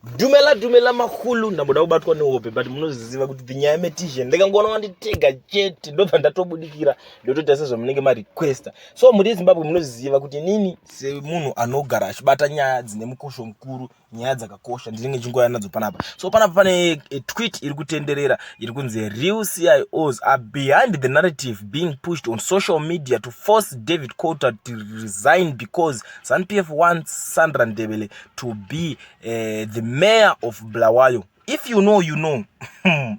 dumela dumela mahulu ndamboda kubatwa nehope but munoziziva kuti nyaya metision ndikangoona wanditega chete ndobva ndatobudikira ndotoita sezvamunenge marequesta so muri zimbabwe munoziziva kuti nini semunhu anogara achibata nyaya dzine mukosho mukuru nyaya dzakakosha ndinenge chingoya nadzo panapa so panapa pane eh, twit iri kutenderera iri kunzi real cios are behind the narrative being pushed on social media to force david coulter to resign because zanpf wants sandra ndebele to be uh, the mayor of Blawayo if you know you know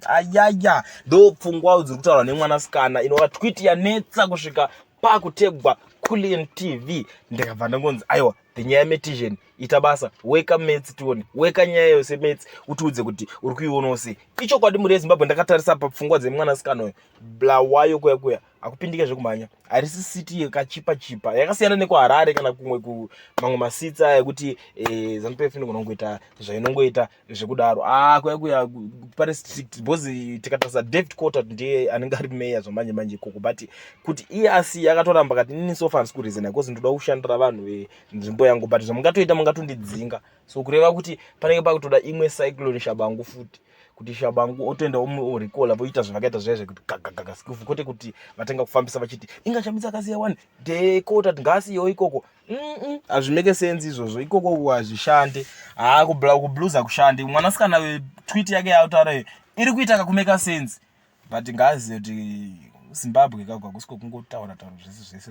ayaya ndo pfungwa dziri kutaurwa nemwanasikana inova twit yanetsa kusvika pakutegwa kulian tv ndikabva ndangonzi aiwa the nyaya metizhen ita basa weka mets tione weka nyaya yose mets utiudze kuti uri kuionawo sei ichokwadi mhuri yezimbabwe ndakatarisa papfungwa dzemwanasikana uyo blawayo kuya kuya akupindike zvekumhanya harisi city yakachipa chipa yakasiyana nekuharare kana kumwe kumamwe masitsi aya ekuti eh, zanu pf inogona kungoita zvainongoita zvekudaro ah, kuya kuya pane strict because tikatarisa david cotter ndiye anenge ari meya zvamanje manje ikoko but kuti iye asi yakatoramba kati inini sofa handisi kurizina because ndoda kushandira vanhu venzvimbo yangu but zvamungatoita mungatondidzinga so kureva kuti panenge pakutoda imwe cyclone shabangu futi kuti shabangu otoenda orecola voita zvavakaita zviya zvekuti gagagaga sikufu kwete kuti vatanga kufambisa vachiti inga shamisa akasiya wani dekota tingasiyewo ikoko hazvimeke senzi izvozvo ikoko hazvishande haa kublues hakushande mwanasikana wetwit yake yautaura iyo iri kuita kakumeka senzi but ngaazive kuti zimbabwe kagwa kusiko kungotaura taura zvese zvese